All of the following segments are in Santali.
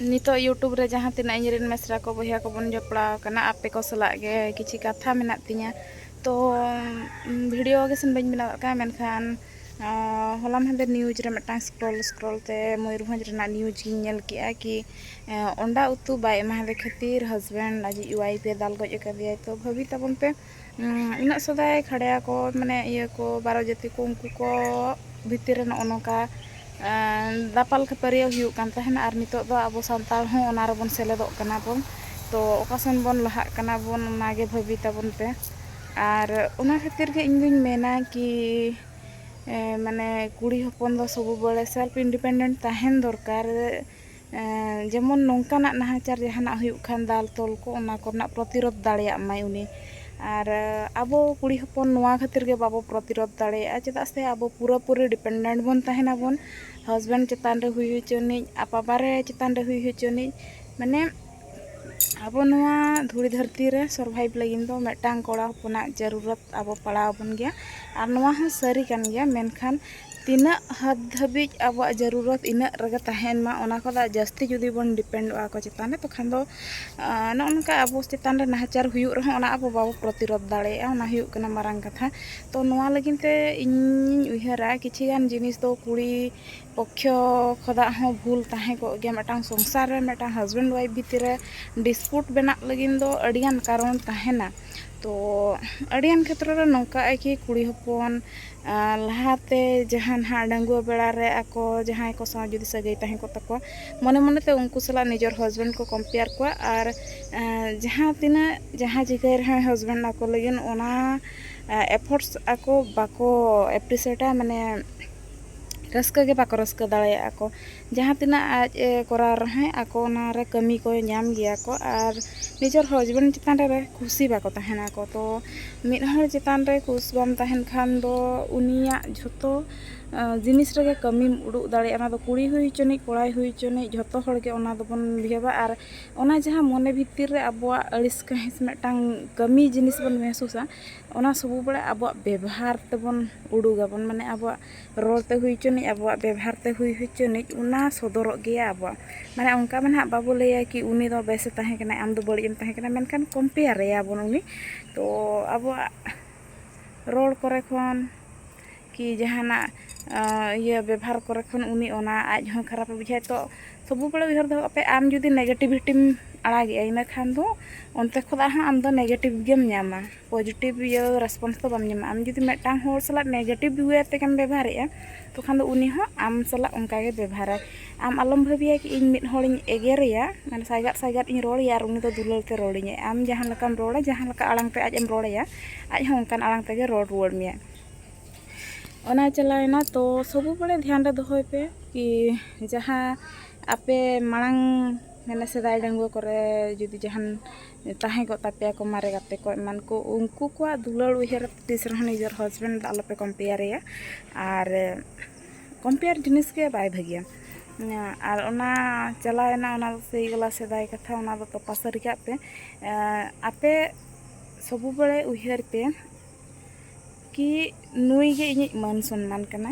ᱱᱤᱛᱚᱜ ᱤᱭᱩᱴᱩᱵᱽ ᱨᱮ ᱡᱟᱦᱟᱸ ᱛᱤᱱᱟᱹᱜ ᱤᱧ ᱨᱮᱱ ᱢᱮᱥᱨᱟ ᱠᱚ ᱵᱚᱭᱦᱟ ᱠᱚᱵᱚᱱ ᱡᱚᱯᱲᱟᱣ ᱟᱠᱟᱱᱟ ᱟᱯᱮ ᱠᱚ ᱥᱟᱞᱟᱜ ᱜᱮ ᱠᱤᱪᱷᱩ ᱠᱟᱛᱷᱟ ᱢᱮᱱᱟᱜ ᱛᱤᱧᱟᱹ ᱛᱚ ᱵᱷᱤᱰᱤᱭᱳ ᱜᱮ ᱥᱮ ᱵᱟᱹᱧ ᱵᱮᱱᱟᱣ ᱠᱟᱜᱼᱟ ᱢᱮᱱᱠᱷᱟᱱ ᱦᱚᱞᱟ ᱢᱟᱦᱫᱮᱨ ᱱᱤᱭᱩᱡᱽ ᱨᱮ ᱢᱤᱫᱴᱟᱝ ᱥᱠᱨᱚᱞ ᱥᱠᱨᱚᱞ ᱛᱮ ᱢᱚᱭᱩᱨᱵᱷᱚᱸᱡᱽ ᱨᱮᱱᱟᱜ ᱱᱤᱭᱩᱡᱽ ᱤᱧ ᱧᱮᱞ ᱠᱮᱜᱼᱟ ᱠᱤ ᱚᱱᱰᱟ ᱩᱛᱩ ᱵᱟᱭ ᱮᱢᱟᱫᱮ ᱠᱷᱟᱹᱛᱤᱨ ᱦᱟᱡᱽᱵᱮᱱᱰ ᱟᱡᱤᱡ ᱚᱣᱟᱭᱤᱯᱷ ᱮ ᱫᱟᱞ ᱜᱚᱡ ᱟᱠᱟᱫᱮᱭᱟ ᱛᱚ ᱵᱷᱟᱹᱵᱤ ᱛᱟᱵᱚᱱ ᱯᱮ ᱩᱱᱟᱹᱜ ᱥᱮᱫᱟᱭ ᱠᱷᱟᱲᱭᱟ ᱠᱚ ᱢᱟᱱᱮ ᱤᱭᱟᱹ ᱠᱚ ᱵᱟᱨᱚ ᱡᱟᱹᱛᱤ ᱠᱚ ᱩᱱᱠᱩ ᱠᱚ ᱵᱷᱤᱛᱤᱨ ᱨᱮ ᱱᱚᱜᱼᱚ ᱱᱚᱝᱠᱟ ᱫᱟᱯᱟᱞ ᱠᱷᱟᱹᱯᱟᱹᱨᱤᱭᱟᱹ ᱦᱩᱭᱩᱜ ᱠᱟᱱ ᱛᱟᱦᱮᱱᱟ ᱟᱨ ᱱᱤᱛᱚᱜ ᱫᱚ ᱟᱵᱚ ᱥᱟᱱᱛᱟᱲ ᱦᱚᱸ ᱚᱱᱟ ᱨᱮᱵᱚᱱ ᱥᱮᱞᱮᱫᱚᱜ ᱠᱟᱱᱟ ᱵᱚᱱ ᱛᱚ ᱚᱠᱟ ᱥᱮᱱ ᱵᱚᱱ ᱞᱟᱦᱟᱜ ᱠᱟᱱᱟ ᱵᱚᱱ ᱚᱱᱟᱜᱮ ᱵᱷᱟᱹᱵᱤ ᱛᱟᱵᱚᱱ ᱯᱮ ᱟᱨ ᱚᱱᱟ ᱠᱷᱟᱹᱛᱤᱨ ᱜᱮ ᱤᱧ ᱫᱩᱧ ᱢᱮᱱᱟ ᱠᱤ ᱢᱟᱱᱮ ᱠᱩᱲᱤ ᱦᱚᱯᱚᱱ ᱫᱚ ᱥᱚᱵ ᱵᱟᱲᱮ ᱥᱮᱞᱯᱷ ᱤᱱᱰᱤᱯᱮᱱᱰᱮᱱᱴ ᱛᱟᱦᱮᱱ ᱫᱚᱨᱠᱟᱨ ᱡᱮᱢᱚᱱ ᱱᱚᱝᱠᱟᱱᱟᱜ ᱱᱟᱦᱟᱪᱟᱨ ᱡᱟᱦᱟᱱᱟᱜ ᱦᱩᱭᱩᱜ ᱠᱷᱟᱱ ᱫᱟᱞ ᱛᱚᱞ ᱠᱚ ᱚᱱᱟ ᱠᱚᱨᱮᱱᱟᱜ ᱯᱨᱚᱛᱤᱨᱳᱫᱷ ᱫᱟᱲᱮᱭᱟᱜ ᱢᱟᱭ ᱩᱱᱤ ᱟᱨ ᱟᱵᱚ ᱠᱩᱲᱤ ᱦᱚᱯᱚᱱ ᱱᱚᱣᱟ ᱠᱷᱟᱹᱛᱤᱨ ᱜᱮ ᱵᱟᱵᱚ ᱯᱨᱚᱛᱤᱨᱳᱫᱷ ᱫᱟᱲᱮᱭᱟᱜᱼᱟ ᱪᱮᱫᱟᱜ ᱥᱮ ᱟᱵᱚ ᱯᱩᱨᱟᱹ ᱯᱩᱨᱤ ᱰᱤᱯᱮᱱᱰᱮᱱᱴ ᱵᱚᱱ ᱛᱟᱦᱮᱱᱟ ᱵᱚᱱ ᱦᱟᱥᱵᱮᱱᱰ ᱪᱮᱛᱟᱱ ᱨᱮ ᱦᱩᱭ ᱦᱚᱪᱚᱱᱤᱡ ᱟᱨ ᱵᱟᱵᱟ ᱨᱮ ᱪᱮᱛᱟᱱ ᱨᱮ ᱦᱩᱭ ᱦᱚᱪᱚᱱᱤᱡ ᱢᱟᱱᱮ ᱟᱵᱚ ᱱᱚᱣᱟ ᱫᱷᱩᱲᱤ ᱫᱷᱟᱹᱨᱛᱤ ᱨᱮ ᱥᱚᱨᱵᱷᱟᱭᱤᱵᱽ ᱞᱟᱹᱜᱤᱫ ᱫᱚ ᱢᱤᱫᱴᱟᱝ ᱠᱚᱲᱟ ᱦᱚᱯᱚᱱᱟᱜ ᱡᱟᱹᱨᱩᱨᱚᱛ ᱟᱵᱚ ᱯᱟᱲᱟᱣ ᱟᱵᱚᱱ ᱜᱮᱭᱟ ᱟᱨ ᱱᱚᱣᱟ ᱦᱚᱸ ᱥᱟᱹᱨᱤ ᱠᱟᱱ ᱜᱮᱭᱟ ᱢᱮᱱᱠᱷᱟᱱ ᱛᱤᱱᱟᱹᱜ ᱦᱟᱫ ᱫᱷᱟᱹᱵᱤᱡ ᱟᱵᱚᱣᱟᱜ ᱡᱟᱹᱨᱩᱨᱚᱛ ᱤᱱᱟᱹᱜ ᱨᱮᱜᱮ ᱛᱟᱦᱮᱱ ᱢᱟ ᱚᱱᱟ ᱠᱷᱚᱱ ᱡᱟᱹᱥᱛᱤ ᱡᱩᱫᱤ ᱵᱚᱱ ᱰᱤᱯᱮᱱᱰᱚᱜᱼᱟ ᱟᱠᱚ ᱪᱮᱛᱟᱱ ᱨᱮ ᱛᱚᱠᱷᱟᱱ ᱫᱚ ᱱᱚᱜᱼᱚ ᱱᱚᱝᱠᱟ ᱟᱵᱚ ᱪᱮᱛᱟᱱ ᱨᱮ ᱱᱟᱦᱟᱪᱟᱨ ᱦᱩᱭᱩᱜ ᱨᱮᱦᱚᱸ ᱚᱱᱟ ᱟᱵᱚ ᱵᱟᱵᱚ ᱯᱨᱚᱛᱤᱨᱳᱫ ᱫᱟᱲᱮᱭᱟᱜᱼᱟ ᱚᱱᱟ ᱦᱩᱭᱩᱜ ᱠᱟᱱᱟ ᱢᱟᱨᱟᱝ ᱠᱟᱛᱷᱟ ᱛᱚ ᱱᱚᱣᱟ ᱞᱟᱹᱜᱤᱫ ᱛᱮ ᱤᱧᱤᱧ ᱩᱭᱦᱟᱹᱨᱟ ᱠᱤᱪᱷᱩ ᱜᱟᱱ ᱡᱤᱱᱤᱥ ᱫᱚ ᱠᱩᱲᱤ ᱯᱚᱠᱠᱷᱚ ᱠᱷᱚᱫᱟᱜ ᱦᱚᱸ ᱵᱷᱩᱞ ᱛᱟᱦᱮᱸ ᱠᱚᱜ ᱜᱮᱭᱟ ᱢᱤᱫᱴᱟᱝ ᱥᱚᱝᱥᱟᱨ ᱨᱮ ᱢᱤᱫᱴᱟᱝ ᱦᱟᱥᱵᱮᱱᱰ ᱚᱣᱟᱭᱤᱯᱷ ᱵᱷᱤᱛᱤᱨ ᱨᱮ ᱰᱤᱥᱯᱩᱴ ᱵᱮᱱᱟᱜ ᱞᱟᱹᱜᱤᱫ ᱫᱚ ᱟᱹᱰᱤ ᱜᱟᱱ ᱠᱟᱨᱚᱱ ᱛᱟᱦᱮᱱᱟ ᱛᱚ ᱟᱹᱰᱤ ᱜᱟᱱ ᱠᱷᱮᱛᱨᱚ ᱨᱮ ᱱᱚᱝᱠᱟᱜᱼᱟ ᱠᱤ ᱠᱩᱲᱤ ᱦᱚᱯᱚᱱ ᱞᱟᱦᱟ ᱛᱮ ᱡᱟᱦᱟᱸ ᱱᱟᱦᱟᱜ ᱰᱟᱺᱜᱩᱣᱟᱹ ᱵᱮᱲᱟ ᱨᱮ ᱟᱠᱚ ᱡᱟᱦᱟᱸᱭ ᱠᱚ ᱥᱟᱶ ᱡᱩᱫᱤ ᱥᱟᱹᱜᱟᱹᱭ ᱛᱟᱦᱮᱸ ᱠᱚᱜ ᱛᱟᱠᱚᱣᱟ ᱢᱚᱱᱮ ᱢᱚᱱᱮ ᱛᱮ ᱩᱱᱠᱩ ᱥᱟᱞᱟᱜ ᱱᱤᱡᱮᱨ ᱦᱟᱥᱵᱮᱱᱰ ᱠᱚ ᱠᱚᱢᱯᱮᱭᱟᱨ ᱠᱚᱣᱟ ᱟᱨ ᱡᱟᱦᱟᱸ ᱛᱤᱱᱟᱹᱜ ᱡᱟᱦᱟᱸ ᱪᱤᱠᱟᱹᱭ ᱨᱮᱦᱚᱸᱭ ᱦᱟᱥᱵᱮᱱᱰ ᱟᱠᱚ ᱞᱟᱹᱜᱤᱫ ᱚᱱᱟ ᱮᱯᱷᱳᱨᱴᱥ ᱟᱠᱚ ᱵᱟᱠᱚ ᱮᱯᱨᱤᱥᱤᱭᱮᱴᱟ ᱢᱟᱱᱮ ᱨᱟᱹᱥᱠᱟᱹ ᱜᱮ ᱵᱟᱠᱚ ᱨᱟᱹᱥᱠᱟᱹ ᱫᱟᱲᱮᱭᱟᱜᱼᱟ ᱠᱚ ᱡᱟᱦᱟᱸ ᱛᱤᱱᱟᱹᱜ ᱟᱡ ᱮ ᱠᱚᱨᱟᱣ ᱨᱮᱦᱚᱸᱭ ᱟᱠᱚ ᱚᱱᱟ ᱨᱮ ᱠᱟᱹᱢᱤ ᱠᱚ ᱧᱟᱢ ᱜᱮᱭᱟ ᱠᱚ ᱟᱨ ᱱᱤᱡᱮᱨ ᱦᱚᱡᱽᱵᱮᱱᱰ ᱪᱮᱛᱟᱱ ᱨᱮ ᱠᱩᱥᱤ ᱵᱟᱠᱚ ᱛᱟᱦᱮᱱᱟ ᱠᱚ ᱛᱚ ᱢᱤᱫ ᱦᱚᱲ ᱪᱮᱛᱟᱱ ᱨᱮ ᱠᱩᱥ ᱵᱟᱢ ᱛᱟᱦᱮᱱ ᱠᱷᱟᱱ ᱫᱚ ᱩᱱᱤᱭᱟᱜ ᱡᱷᱚᱛᱚ ᱡᱤᱱᱤᱥ ᱨᱮᱜᱮ ᱠᱟᱹᱢᱤᱢ ᱩᱫᱩᱜ ᱫᱟᱲᱮᱭᱟᱜᱼᱟ ᱚᱱᱟ ᱫᱚ ᱠᱩᱲᱤ ᱦᱩᱭ ᱦᱚᱪᱚᱱᱤᱡ ᱠᱚᱲᱟᱭ ᱦᱩᱭ ᱦᱚᱪᱚᱱᱤᱡ ᱡᱷᱚᱛᱚ ᱦᱚᱲ ᱜᱮ ᱚᱱᱟ ᱫᱚᱵᱚᱱ ᱵᱤᱦᱮᱵᱟ ᱟᱨ ᱚᱱᱟ ᱡᱟᱦᱟᱸ ᱢᱚᱱᱮ ᱵᱷᱤᱛᱤᱨ ᱨᱮ ᱟᱵᱚᱣᱟᱜ ᱟᱹᱲᱤᱥ ᱠᱟᱹᱦᱤᱥ ᱢᱤᱫᱴᱟᱝ ᱠᱟᱹᱢᱤ ᱡᱤᱱᱤᱥ ᱵᱚᱱ ᱢᱮᱦᱥᱩᱥᱟ ᱚᱱᱟ ᱥᱚᱵᱚ ᱵᱮᱲᱟ ᱟᱵᱚᱣᱟᱜ ᱵᱮᱵᱷᱟᱨ ᱛᱮᱵᱚᱱ ᱩᱰᱩᱜᱟᱵᱚᱱ ᱢᱟᱱᱮ ᱟᱵᱚᱣᱟᱜ ᱨᱚᱲ ᱛᱮ ᱦᱩᱭ ᱦᱚᱪᱚᱱᱤᱡ ᱟᱵᱚᱣᱟᱜ ᱵᱮᱵᱷᱟᱨ ᱛᱮ ᱦᱩᱭ ᱦᱚᱪᱚᱱᱤᱡ ᱚᱱᱟ ᱥᱚᱫᱚᱨᱚᱜ ᱜᱮᱭᱟ ᱟᱵᱚᱣᱟᱜ ᱢᱟᱱᱮ ᱚᱱᱠᱟ ᱢᱟ ᱱᱟᱦᱟᱜ ᱵᱟᱵᱚ ᱞᱟᱹᱭᱟ ᱠᱤ ᱩᱱᱤ ᱫᱚ ᱵᱮᱥᱮ ᱛᱟᱦᱮᱸ ᱠᱟᱱᱟᱭ ᱟᱢ ᱫᱚ ᱵᱟᱹᱲᱤᱡ ᱮᱢ ᱛᱟᱦᱮᱸ ᱠᱟᱱᱟ ᱢᱮᱱᱠᱷᱟᱱ ᱠᱚᱢᱯᱮᱭᱟᱨᱮᱭᱟᱵᱚᱱ ᱩᱱᱤ ᱛᱚ ᱟᱵᱚᱣᱟᱜ ᱨᱚᱲ ᱠᱚᱨᱮ ᱠᱷᱚᱱ ᱠᱤ ᱡᱟᱦᱟᱱᱟᱜ ᱤᱭᱟᱹ ᱵᱮᱵᱷᱟᱨ ᱠᱚᱨᱮ ᱠᱷᱚᱱ ᱩᱱᱤ ᱚᱱᱟ ᱟᱡ ᱦᱚᱸ ᱠᱷᱟᱨᱟᱯᱮ ᱵᱩᱡᱷᱟᱹᱣᱟ ᱛᱚ ᱥᱚᱵ ᱵᱟᱲᱮ ᱩᱭᱦᱟᱹᱨ ᱫᱚᱦᱚ ᱠᱟᱜᱯᱮ ᱟᱢ ᱡᱩᱫᱤ ᱱᱮᱜᱮᱴᱤᱵᱷᱤᱴᱤᱢ ᱟᱲᱟᱜᱮᱜᱼᱟ ᱤᱱᱟᱹ ᱠᱷᱟᱱ ᱫᱚ ᱚᱱᱛᱮ ᱠᱷᱚᱱᱟᱜ ᱦᱚᱸ ᱟᱢᱫᱚ ᱱᱮᱜᱮᱴᱤᱵᱷ ᱜᱮᱢ ᱧᱟᱢᱟ ᱯᱚᱡᱮᱴᱤᱵᱷ ᱤᱭᱟᱹ ᱨᱮᱥᱯᱚᱱᱥ ᱫᱚ ᱵᱟᱢ ᱧᱟᱢᱟ ᱟᱢ ᱡᱩᱫᱤ ᱢᱤᱫᱴᱟᱝ ᱦᱚᱲ ᱥᱟᱞᱟᱜ ᱱᱮᱜᱮᱴᱤᱵᱷ ᱚᱭᱮ ᱛᱮᱜᱮᱢ ᱵᱮᱵᱷᱟᱨᱮᱜᱼᱟ ᱛᱚᱠᱷᱚᱱ ᱫᱚ ᱩᱱᱤ ᱦᱚᱸ ᱟᱢ ᱥᱟᱞᱟᱜ ᱚᱱᱠᱟ ᱜᱮ ᱵᱮᱵᱷᱟᱨᱟᱭ ᱟᱢ ᱟᱞᱚᱢ ᱵᱷᱟᱹᱵᱤᱭᱟ ᱠᱤ ᱤᱧ ᱢᱤᱫ ᱦᱚᱲᱤᱧ ᱮᱜᱮᱨᱮᱭᱟ ᱢᱟᱱᱮ ᱥᱟᱭᱜᱟᱫ ᱥᱟᱭᱜᱟᱫ ᱤᱧ ᱨᱚᱲᱮᱭᱟ ᱟᱨ ᱩᱱᱤ ᱫᱚ ᱫᱩᱞᱟᱹᱲ ᱛᱮ ᱨᱚᱲᱤᱧᱟᱭ ᱟᱢ ᱡᱟᱦᱟᱸ ᱞᱮᱠᱟᱢ ᱨᱚᱲᱟ ᱡᱟᱦᱟᱸ ᱞᱮᱠᱟ ᱟᱲᱟᱝ ᱛᱮ ᱟᱡ ᱮᱢ ᱨᱚᱲᱮᱭᱟ ᱟᱡ ᱦᱚᱸ ᱚᱱᱠᱟᱱ ᱟᱲᱟᱝ ᱛᱮᱜᱮ ᱨᱚᱲ ᱨᱩᱣᱟᱹᱲ ᱢᱮᱭᱟᱭ ᱚᱱᱟ ᱪᱟᱞᱟᱣᱮᱱᱟ ᱛᱚ ᱥᱚᱵ ᱵᱟᱲᱮ ᱫᱷᱮᱭᱟᱱ ᱨᱮ ᱫᱚᱦᱚᱭ ᱯᱮ ᱠᱤ ᱡᱟᱦᱟᱸ ᱟᱯᱮ ᱢᱟᱲᱟᱝ ᱢᱟᱱᱮ ᱥᱮᱫᱟᱭ ᱰᱟᱺᱜᱩᱣᱟᱹ ᱠᱚᱨᱮ ᱡᱩᱫᱤ ᱡᱟᱦᱟᱱ ᱛᱟᱦᱮᱸ ᱠᱚᱜ ᱛᱟᱯᱮᱭᱟ ᱠᱚ ᱢᱟᱨᱮ ᱜᱟᱛᱮ ᱠᱚ ᱮᱢᱟᱱ ᱠᱚ ᱩᱱᱠᱩ ᱠᱚᱣᱟᱜ ᱫᱩᱞᱟᱹᱲ ᱩᱭᱦᱟᱹᱨ ᱛᱤᱥ ᱨᱮᱦᱚᱸ ᱱᱤᱡᱮᱨ ᱦᱟᱥᱵᱮᱱᱰ ᱫᱚ ᱟᱞᱚᱯᱮ ᱠᱚᱢᱯᱮᱭᱟᱨᱮᱭᱟ ᱟᱨ ᱠᱚᱢᱯᱮᱭᱟᱨ ᱡᱤᱱᱤᱥ ᱜᱮ ᱵᱟᱭ ᱵᱷᱟᱹᱜᱤᱭᱟ ᱟᱨ ᱚᱱᱟ ᱪᱟᱞᱟᱣᱮᱱᱟ ᱚᱱᱟ ᱫᱚ ᱥᱮᱭ ᱜᱮᱞᱟ ᱥᱮᱫᱟᱭ ᱠᱟᱛᱷᱟ ᱚᱱᱟ ᱫᱚ ᱛᱚᱯᱟ ᱥᱟᱹᱨᱤ ᱠᱟᱜ ᱯᱮ ᱟᱯᱮ ᱥᱚᱵ ᱵᱟᱲᱮ ᱩᱭᱦᱟᱹᱨ ᱯᱮ ᱠᱤ ᱱᱩᱭ ᱜᱮ ᱤᱧᱤᱡ ᱢᱟᱹᱱ ᱥᱚᱱᱢᱟᱱ ᱠᱟᱱᱟ